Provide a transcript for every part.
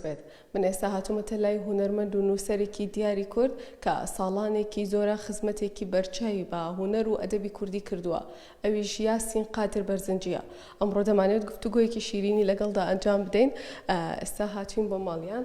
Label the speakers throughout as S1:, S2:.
S1: بێت من ئێستا هاتومەتە لای هونەرمەند و نووسەرێکی دیاری کورد کە ساڵانێکی زۆرە خزمەتێکی بەرچاوی بە هونەر و ئەدەبی کوردی کردووە ئەویش یاسین قادر بەرزنجیە ئەمڕۆ دەمانەوێت گفتوگۆیەکی شیرینی لەگەڵدا ئەنجام بدەین ئێستا هاتوین بۆ ماڵیان.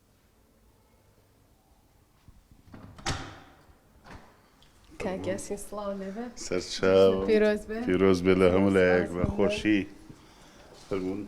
S1: کاکیاسین سڵاو لێبێ سەرچاو پیرۆز
S2: بێ پیرۆز بێ لە هەموو لایەک بە خۆشی فەرمونون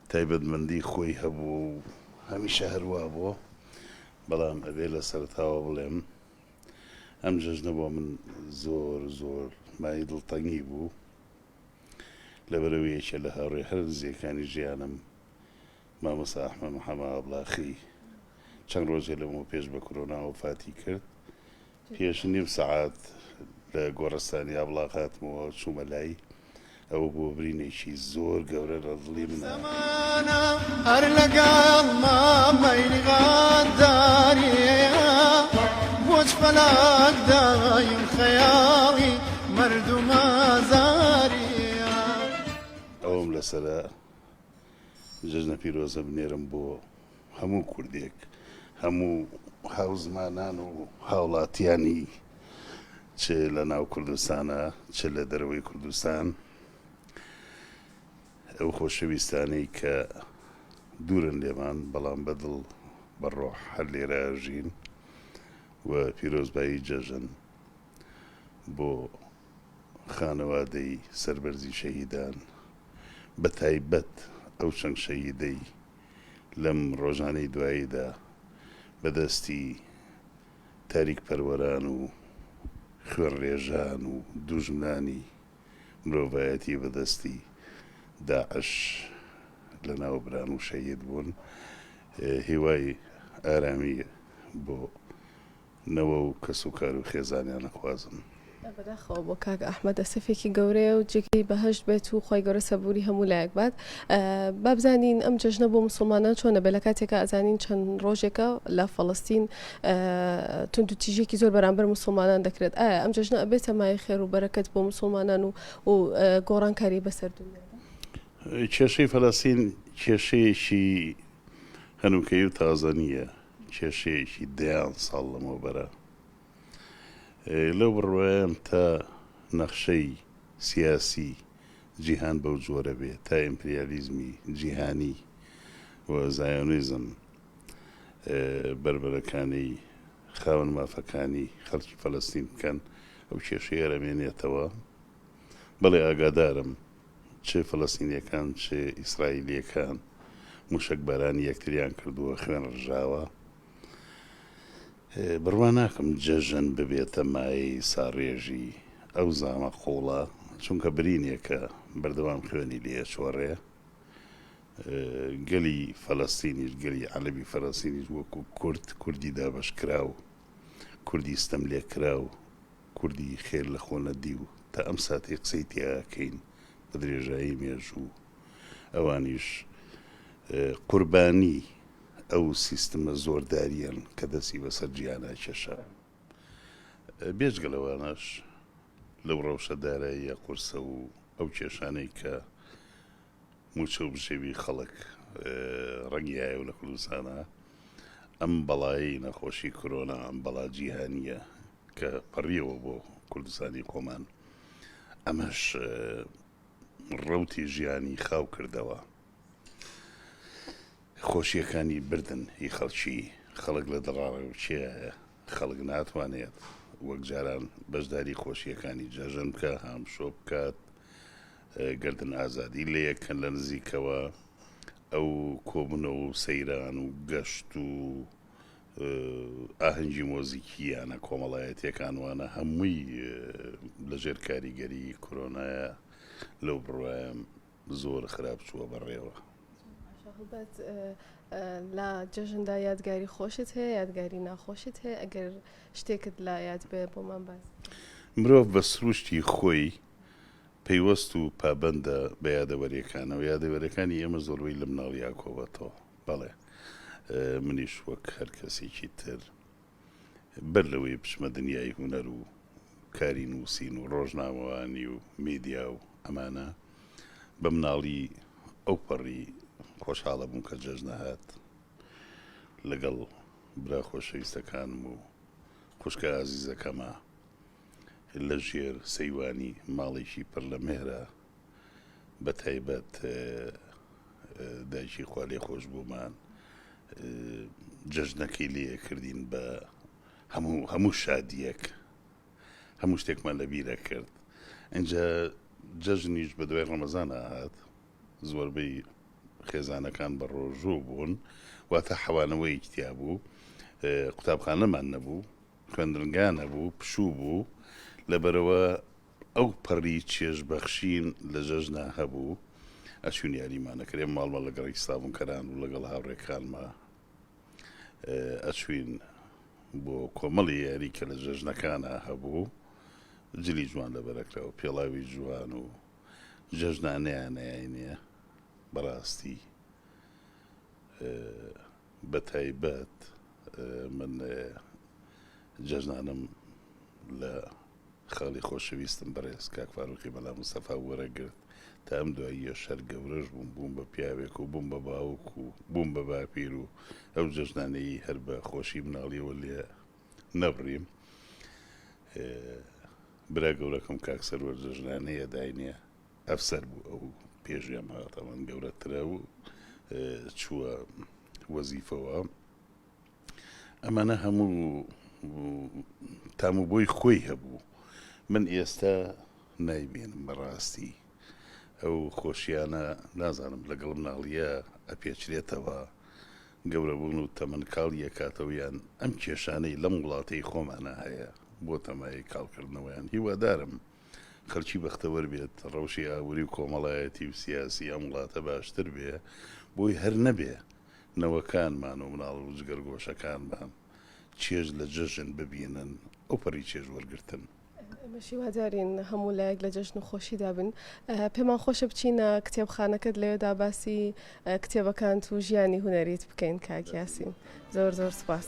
S2: تایبەتمەندی خۆی هەبووە و هەمیشە هەر وا بووە، بەڵام ئەبێ لە سەرەتاوە بڵێم ئەم جەژنە بۆ من زۆر زۆر مایەی دڵتەنگی بوو، لەبەرئەوەی یەکێ لە هاوڕێ هەرە نزیەکانی ژیانم مامۆستا ئەحمەد محەمە ئابڵاخی چەند ڕۆژێ لەمەوپێش بە کرۆنا وەفاتی کرد، پێش نیو سەعات لە گۆڕستانی ئابڵاق هاتمەوە و چوومە لای. ئەوە بووە برینێکی زۆر گەورە لە دڵی منە. ئەوەم لەسەرە جەژنە پیرۆزە بنێرم بۆ هەموو کوردێک، هەموو هاوزمانان و هاوڵاتیانی چ لە ناو کوردستانە چ لە دەرەوەی کوردستان، ئەو خۆشەویستانەی کە دوورن لێمان بەڵام بە دڵ بە ڕۆح هەر لێرە ئەژین و پیرۆزبایی جەژن بۆ خانەوادەی سەربەرزی شەهیدان بە تایبەت ئەو چەند شەهیدەی لەم ڕۆژانەی دواییدا بە دەستی تاریک پەروەران و خوێنڕێژان و دووژمنانی مرۆڤایەتی بە دەستی داعش لە ناو بران و شەهید بوون هیوای ئارامی بۆ نەوە و کەس و کار و خێزانیان ئەخوازم. بەداخەوە بۆ
S1: کاک ئەحمەد ئەسەفێکی گەورەیە و جێگەی بەهەشت بێت و خوای گەورە سەبوری هەموو لایەک بات با بزانین ئەم جەژنە بۆ مسوڵمانان چۆنە بێ لە کاتێکا ئەزانین چەند ڕۆژێکە لە فەڵستین تونند و تیژێکی زۆر بەرامبەر مسلمانان دەکرێت ئایا ئەم جەژنە ئەبێتە مای خێر و بەرەکەت بۆ مسلمانان و و گۆڕانکاری بەسەر دنیا کێشەی
S2: فەلەستین کێشەیەکی هەنووکەی و تازە نییە کێشەیەکی دەیان ساڵ لەمەوبەرە لەو بڕوایەم تا نەخشەی سیاسی جیهان بەو جۆرە بێ، تا ئیمپریالیزمی جیهانی و زایۆنیزم بەربەرەکانێی خاوەن مافەکانی خەڵکی فەلەستین بکەن، ئەو کێشەیە ئەرەمێنێتەوە. بەڵێ ئاگادارم چ فەلەستینیەکان چ ئیسرائیلیەکان موشەک بارانی یەکتریان کردووە خوێن ڕژاوە بڕوا ناکەم جەژن ببێتە مایەی ساڕێژی ئەو زامە قوڵە چونکە برینێکە بەردەوام خوێنی لێ ئەچۆڕێ گەلی فەلەستینیش گەلی عەلەبی فەلەستینیش وەکو کورد کوردی دابەشکراو کوردی ستەم لێکراو کوردی خێر لە خۆ نەدیو تا ئەم ساتەی قسەی تیا ئەکەین بە درێژایی مێژوو ئەوانیش قوربانی ئەو سیستمە زۆرداریەن کە دەستی بەسەر جیهانا کێشا بێجگە لەوانەش لەو ڕەوشە داراییە قورسە و ئەو کێشانەی کە موچە و بژێوی خەڵک ڕەنگیایە و لە کوردستانا ئەم بەڵایەی نەخۆشی کرۆنا ئەم بەڵا جیهانیە کە پەڕیەوە بۆ کوردستانی خۆمان، ئەمەش ڕەوتی ژیانی خاو کردەوە، خۆشییەکانی بردن هی خەڵکی، خەڵک لە دڵاڕێوچێیایە، خەڵک ناتوانێت وەک جاران بەشداری خۆشییەکانی جەژن بکات، هامشۆ بکات، گەردن ئازادی لێ کەن لە نزیکەوە، ئەو کۆبوونەوە و سەیران و گەشت و ئاهەنگی مۆزیکییانە کۆمەڵایەتیەکان وانە هەمووی لەژێر کاریگەری کۆرۆنایە لەو بڕوایم زۆر خراپ چووە بەڕێوە هەڵبەت
S1: لە جەژندا یادگاری خۆشت هەیە یادگاری ناخۆشت هەیە ئەگەر شتێکت لا یاد بێ بۆمان باز مرۆڤ بە
S2: سروشتی خۆی پەیوەست و پابندە بە یادەوەریەکانەوە یادەوەرەکانی ئێمە زۆربەی لە مناڵی یاکۆبەتەوە بەڵێ منیش وەک هەر کەسێکی تر بەر لەوەی بچمە دنیای هونەر و کاری نووسین و ڕۆژنامەوانی و میدیا و ئەمانە بە مناڵی ئەو پەڕی خۆشحاڵە بووم کە جەژنە هات لەگەڵ برا خۆشەویستەکانم و خوشکە ئازیزەکەمە لە ژێر سەیوانی ماڵێکی پڕ لە مێرە بە تایبەت دایکی خوالێ خۆش بوومان جەژنەکەی لێ کردین بە هەموو هەموو شادیەک هەموو شتێکمان لە بیرە کرد ئەجا جەژنیش بە دوای ڕەمەزان ئاهات زۆربەی خێزانەکان بە ڕۆژوو بوون واتە حەوانەوەی کتیا بوو قوتابخانەمان نەبوو خوێندنگا نەبوو پشوو بوو لەبەرەوە ئەو پەڕی چێژ بەخشین لە جەژنا هەبوو، ئەچووین یاریمان ئەکرێ، ماڵ ماڵ لەگەڕی سڵاونکەران و لەگەڵ هاوڕێکانما ئەچووین بۆ کۆمەڵی یاری کە لە جەژنەکانا هەبوو، جلی جوان لەبەر ئەکرا و پێڵاوی جوان و جەژنا نەیانەیاینێ، بەڕاستی بە تایبەت من جەژنانم لە. خاڵی خۆشەویستم بەڕێز کاک فاروقی مەلا مستەفا وەرەگرت تا ئەم دواییەش هەر گەورەش بووم بووم بە پیاوێک و بووم بە باوک و بووم بە باپیر و ئەو جەژنانەیی هەر بە خۆشی مناڵیەوە لێ نەبڕیم برا گەورەکەم کاک سەروەر جەژنانەی ئەداینێ ئەفسەر بوو ئەو پێشویان ماڵەتەوان گەورەترە و چووە وەزیفەوە ئەمانە هەموو تام و بۆی خۆی هەبوو من ئێستا نایبێنم بەڕاستی ئەو خۆشیانە نازانم لەگەڵ مناڵیە ئەپێچرێتەوە گەورەبوون و تەمەن کاڵ یەکاتەوەیان ئەم کێشانەی لەم وڵاتەی خۆمانە هەیە بۆ تەمای کاڵکردنەوەیان هیوادارم خەلکی بەختەوەر بێت ڕەوشی ئابووری و کۆمەڵایەتی و سیاسی ئەم وڵاتە باشتر بێ بۆی هەر نەبێ نەوەکانمان و مناڵ و جگەرگۆشەکانمان چێژ لە جەژن ببینن ئەو پەڕی چێژ وەرگرتن. ئێمەش
S1: هیوادارین هەموو لایەک لە جەژن و خۆشیدا بن. پێمان خۆشە بچینە کتێبخانەکەت لەوێدا باسی کتێبەکانت و ژیانی هونەریت بکەین کاک یاسین. زۆر زۆر سوپاس.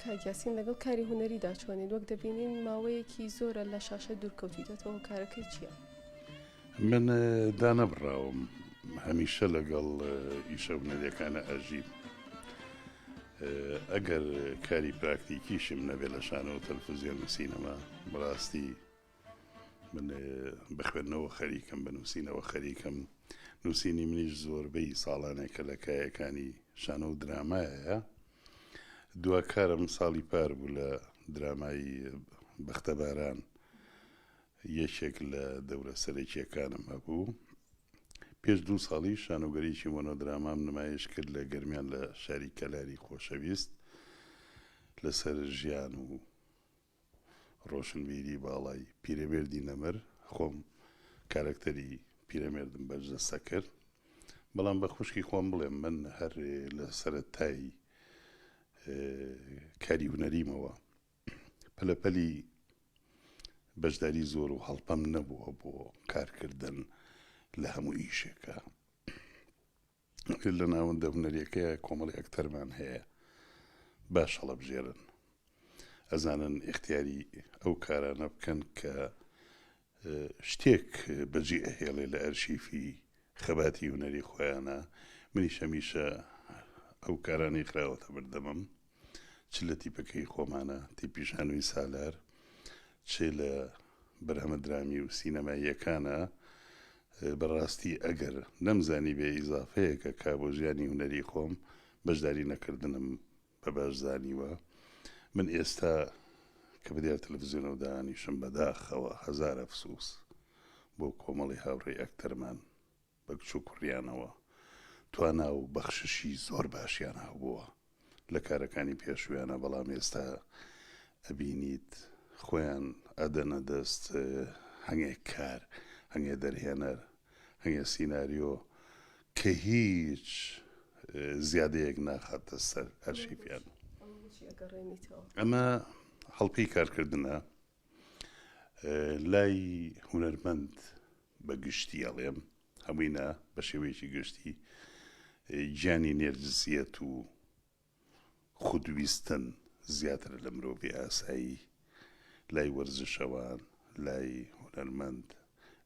S1: کاک یاسین لەگەڵ کاری هونەریدا چۆنیت وەک دەبینین ماوەیەکی زۆرە لە شاشە دوورکەوتیتەوە هۆکارەکەی چییە؟ من
S2: دانەبڕاوم هەمیشە لەگەڵ ئیشە هونەریەکانە ئەژیم ئەگەر کاری پراکتیکیشم نەبێ لە شانەوە تەلفزیۆن و سینەما بەڕاستی من بە خوێندنەوە خەریکم بە نووسینەوە خەریکم نووسینی منیش زۆربەی ساڵانێکە لە کایەکانی شانۆ و درامایە دواکارم ساڵی پار بوو لە درامایی بەختەباران یەکێک لە دەورە سەرەکیەکانم هەبوو پێش دوو ساڵی شانۆگەریی مۆنۆدرامام نمایش کرد لە گەرمیان لە شاری کەلاری خۆشەویست لەسەر ژیان و ڕۆشنبیری باڵای پیرەمێردی نەمر، خۆم کارەکتەری پیرەمێردم بەرجەستە کرد، بەڵام بە خوشکی خۆم بڵێم من هەر لە سەرەتای کاری هونەریمەوە پەلەپەلی بەشداری زۆر و هەڵپەم نەبووە بۆ کارکردن لە هەموو ئیشێکا. لە ناوەندە هونەریەکەیە کۆمەڵی ئەکتەرمان هەیە باش هەڵەبژێرن ئەزانن ئختیاری ئەو کارانە بکەن کە شتێک بەجێ ئەهێڵێ لە ئەرشیفی خەباتی هونەری خۆیانە منی شەمیشە ئەو کارانی خراوەتە بردەمم چ لە تیپەکەی خۆمانە، تیپی شانۆی سالار، چ لە بەرهەمە درامی و سینەماییەکانە، بەڕاستی ئەگەر نەمزانیبێ ئیزافەیەکە کە بۆ ژیانی هونەری خۆم بەشداری نەکردنم بە باش زانیوە. من ئێستا کە بە دیار تەلەفزیۆنەوە دانیشم بەداخەوە هەزار ئەفسووس بۆ کۆمەڵی هاوڕێی ئەکتەرمان. بە کچ و کوڕیانەوە توانا و بەخششی زۆر باشیان هەبووە لە کارەکانی پێشوویانا بەڵام ئێستا ئەبینیت خۆیان ئەدەنە دەست هەنگێ کار هەنگێ دەرهێنەر هەنگێ سیناریۆ کە هیچ زیادەیەک ناخاتە سەر ئەرشیفیان ئەمە هەڵپەی کارکردنە لای هونەرمەند بە گشتی ئەڵێم هەمووی نا بە شێوەیەکی گشتی گیانی نێرجسیەت و خودویستن زیاترە لە مرۆڤی ئاسایی لای وەرزشەوان لای هونەرمەند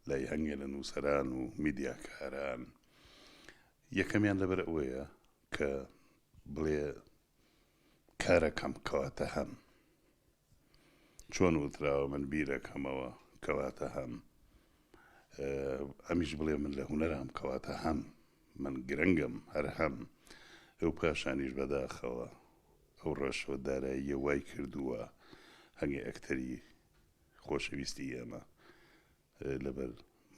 S2: لای هەنگێ لە نووسەران و میدیاکاران یەکەمیان لەبەر ئەوەیە کە بڵێ کارەکەم کەواتە هەم چۆن وتراوە من بیرەکەمەوە کەواتە هەم ئەمیش بڵێ من لە هونەرام کەواتە هەم من گرنگم هەر هەم ئەو پاشانیش بەداخەوە ئەو ڕەشوە داراییە وای کردووە هەنگی ئەکتەری خۆشەویستی ئێمە لەبەر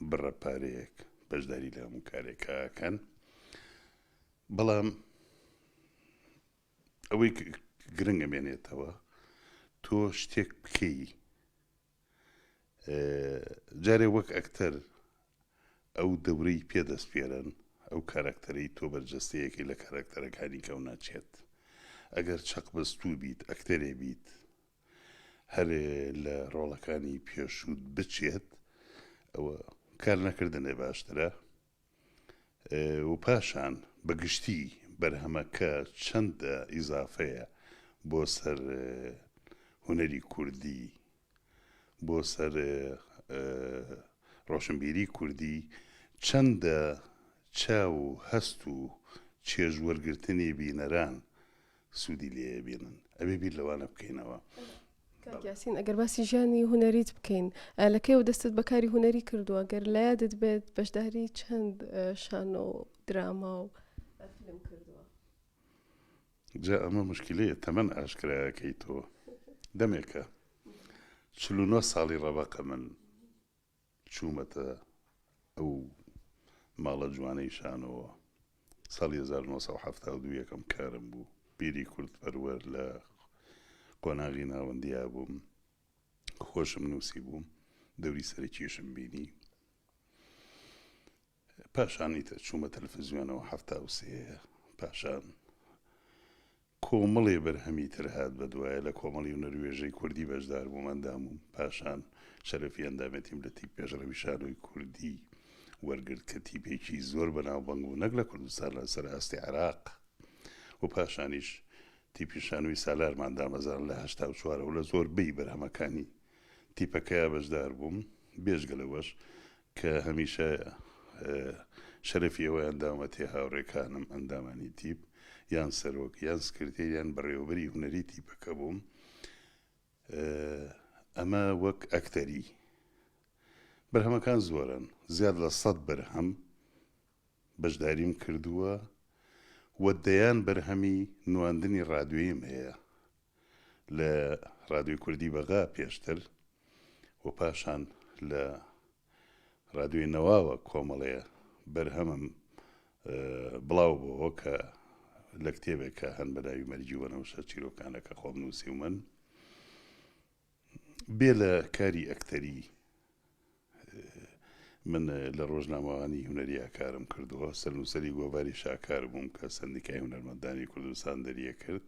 S2: بڕە پارەیەک بەشداری لە هەموو کارێکەکەن بەڵام ئەوەی گرنگە مێنێتەوە تۆ شتێک بکەی جارێ وەک ئەکتەر ئەو دەورەی پێ دەست پێرن ئەو کارەکتەرەی تۆ بەرجەستەیەکی لە کارەکتەرەکانی کەو ناچێت ئەگەر چەق بەستوو بیت ئەکتەرێ بیت هەرێ لە ڕۆڵەکانی پێشووت بچێت ئەوە کار نەکردنێ باشترە و پاشان بە گشتی بەرهەمەکە چەندە ئیزافەیە بۆ سەر هونەری کوردی، بۆ سەر ڕۆشنبیری کوردی، چەندە چاو و هەست و چێژ وەرگرتنی بینەران سوودی لێ بینن ئەبێ بیر لەوانە بکەینەوە. کاک یاسین
S1: ئەگەر باسی ژیانی هونەریت بکەین لە کەیەوە دەستت بەکاری هونەری کردووە گەر لە یادت بێت بەشداری چەند شانۆ و دراما و فیلم کردووە
S2: جا ئەمە مشکلەیە تەمەن ئاشکرایەکەی تۆ دەمێکە چل و نۆ ساڵی ڕەبەقە من چوومەتە ئەو ماڵە جوانەی شانۆوە. ساڵی هەزار و نۆ سەد و حەفتا و دوو یەکەم کارم بوو. بیری کوردپەروەر لە قۆناغی ناوەندیا بووم. خۆشم نووسیبوو. دەوری سەرەکیشم بینی. پاشان ئیتر چوومە تەلفزیۆنەوە حەفتا و سێ پاشان کۆمەڵێ بەرهەمی تر هات بەدوایە لە کۆمەڵی ونەروێژەی کوردی بەشدار بووم ئەندامووم پاشان شەرەفی ئەندامێتیم لە تیپ پێشڕەوی شانۆی کوردی وەرگرت کە تیپێکی زۆر بەناوبەنگ بوو نەک لە کوردستان لە سەر ئاستی عێراق و پاشانیش تیپی شانۆی سالارمان دامەزان لە هەشتا و چوارەوە لە زۆربەی بەرهەمەکانی تیپەکەیا بەشدار بووم بێژگە لەوەش کە هەمیشە شەرەفی ئەوەیان داومەتێ هاوڕێکانم ئەندامانی تیپ یان سەرۆک یان سکرتێر یان بەڕێوەبەری هونەری تیپەکە بووم ئەمە وەک ئەکتەری بەرهەمەکان زۆرن زیاد لە سەد بەرهەم بەشداریم کردووە و دەیان بەرهەمی نواندنی ڕادوێیم هەیە لە رادیۆی کوردی بەغا پێشتر و پاشان لە رادیۆی نەواوە کۆمەڵێ بەرهەمم بڵاو بۆوە کە لە کتێبێکە هەن بە ناوی مەرگی وەنەوشە چیرۆکانە کە خۆم نووسیومن. بێ لە کاری ئەکتەری من لە ڕۆژنامەوانی هونەریا کارم کردووە سەرنووسری گۆڤاری شاکار بووم کە سندیکای هونەرمەندانی کوردستان دەریە کرد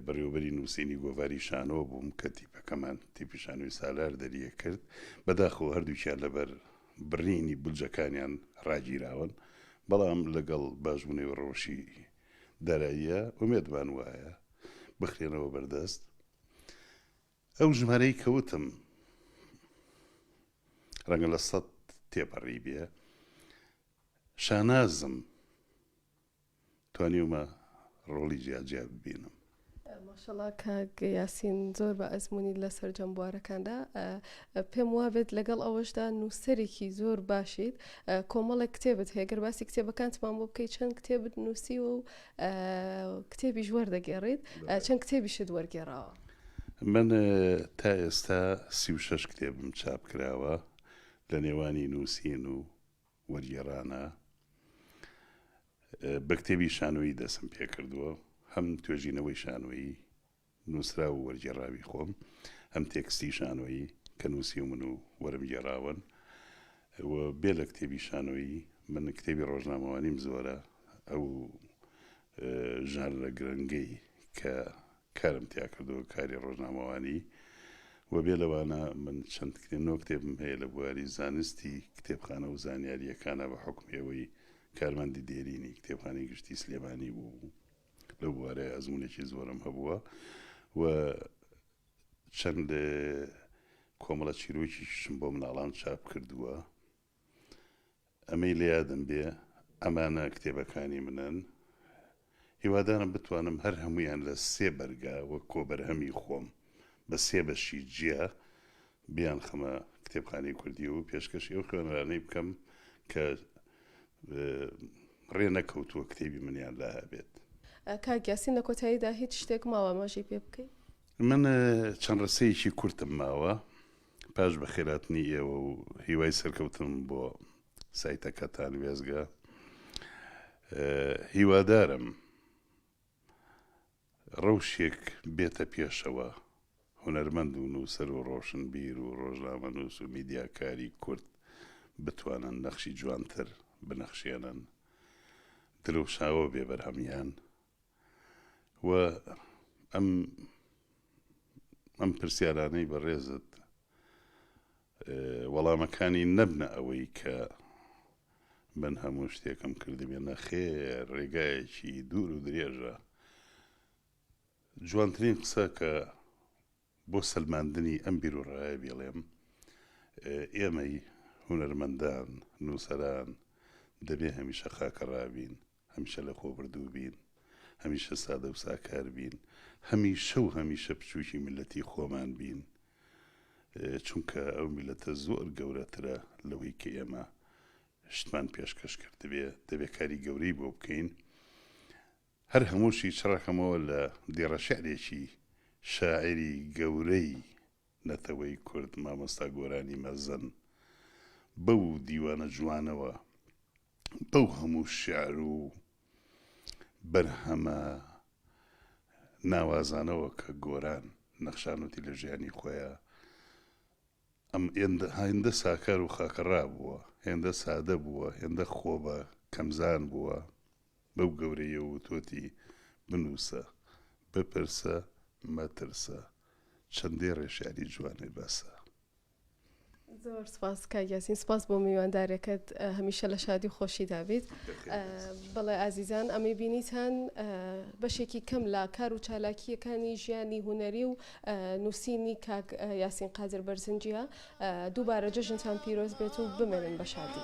S2: بەڕێوبەری نووسینی گۆڤاری شانۆ بووم کە تیپەکەمان تیپی شانوی سالار دەریە کرد بەداخۆ هەردووکیان لەبەر بڕینی بلجەکانیان ڕاگیراون بەڵام لەگەڵ باشبوونەوە ڕەوشی داراییە ئومێدمان وایە بخرێنەوە بەردەست ئەو ژمارەی کە وتم ڕەنگە لە سەد تێپەڕی بێ شانازم توانیومە ڕۆڵی جیاجیا ببینم ماشەڵا
S1: کاک یاسین زۆر بە ئەزمموی لە سەررجەم بوارەکاندا پێم وابێت لەگەڵ ئەوەشدا نووسەرێکی زۆر باشیت کۆمەڵێک کتێبت هەیەگەر باسی کتێبەکانتمان بۆ بکەیت چەند کتێبت نووسیوە و کتێبیش وەردەگێڕیت چەند کتێبیشت وەرگێڕاوە من
S2: تا ئێستا سی و شش کتێبم چاپ کراوە لە نێوانی نووسین و وەرگێڕانە بە کتێبی شانۆیی دەسم پێکردووە هەم توێژینەوەی شانۆیی نووسراو و وەرگێڕاوی خۆم، ئەم تێکستی شانۆیی کە نووسیومن و وەرم گێڕاون و بێ لە کتێبی شانۆیی، من کتێبی ڕۆژنامەوانیم زۆرە، ئەو ژانرە گرنگەی کە کارم تیا کردووە کاری ڕۆژنامەوانی و بێ لەوانە من چەند کتێب، نۆ کتێبم هەیە لە بواری زانستی کتێبخانە و زانیارییەکانە بە حوکمی ئەوەی کارمەندی دێرینی کتێبخانەی گشتی سلێمانی بووم. لەو بوارەیە ئەزمونێکی زۆرم هەبووە و چەند کۆمەڵە چیرۆکیشم بۆ مناڵان چاپ کردووە ئەمەی لە یادم بێ ئەمانە کتێبەکانی منن هیوادارم بتوانم هەر هەمویان لە سێ بەرگا وە کۆبەرهەمی خۆم بە سێ بەشی جیا بیان خەمە کتێبخانی کوردی و پێشکەشی ئەو خوێنرانەی بکەم کە ڕێ نەکەوتووە کتێبی منیان لا هەبێت. کاک یاسین
S1: لە کۆتاییدا هیچ شتێک ماوە ئاماژەی پێ بکەی؟ من
S2: چەند ڕستەیەکی کورتم ماوە پاش بەخێراتنی ئێوە و هیوای سەرکەوتنم بۆ سایتەکەتان وێزگە هیوادارم ڕەوشێک بێتە پێشەوە، هونەرمەند و نووسەر و ڕۆشنبیر و ڕۆژنامەنووس و میدیاکاری کورد بتوانن نەخشی جوانتر بنەخشێنن، دروشاوە بێ بەرهەمیان و ئەم ئەم پرسیارانەی بەڕێزت وەڵامەکانی نەبنە ئەوەی کە من هەموو شتێکم کردبێ نەخێر ڕێگایەکی دوور و درێژە جوانترین قسە کە بۆ سەلماندنی ئەم بیروڕایە بیڵێم ئێمەی هونەرمەندان نووسەران دەبێ هەمیشە خاکەڕابین هەمیشە لەخۆبوردوو بین، هەمیشە سادە و ساکار بین، هەمیشە و هەمیشە بچووکی میللەتی خۆمان بین، چونکە ئەو میللەتە زۆر گەورەترە لەوەی کە ئێمە شتمان پێشکەش کردبێ، دەبێ کاری گەورەی بۆ بکەین. هەر هەمووشی چڕەکەمەوە لە دێڕەشعرێکی شاعیری گەورەی نەتەوەی کورد مامۆستا گۆرانی مەزن، بەو دیوانە جوانەوە، بەو هەموو شیعر و بەرهەمە ناوازانەوە کە گۆران نەخشانوتی لە ژیانی خۆیا، ئەم ئێندە هایندە ساکار و خاکەڕا بووە، هێندە سادە بووە، هێندە خۆ بە کەمزان بووە، بەو گەورەیە وتۆتی، بنووسە، بپرسە، مەترسە، چەندێ ڕێشانی جوانێ بەسە.
S1: زۆر سپاس کاک یاسین سپاس بۆ میوانداریەکەت هەمیشە لە شادی و خۆشیدا بیت بەڵێ ئازیزان ئەمەی بینیتان بەشێکی کەم لە کار و چالاکیەکانی ژیانی هوەری و نووسینی کاک یاسین قادر بەرزنجە دووبارە جەژنتان پیرۆز بێت و بمێنن بە شادی.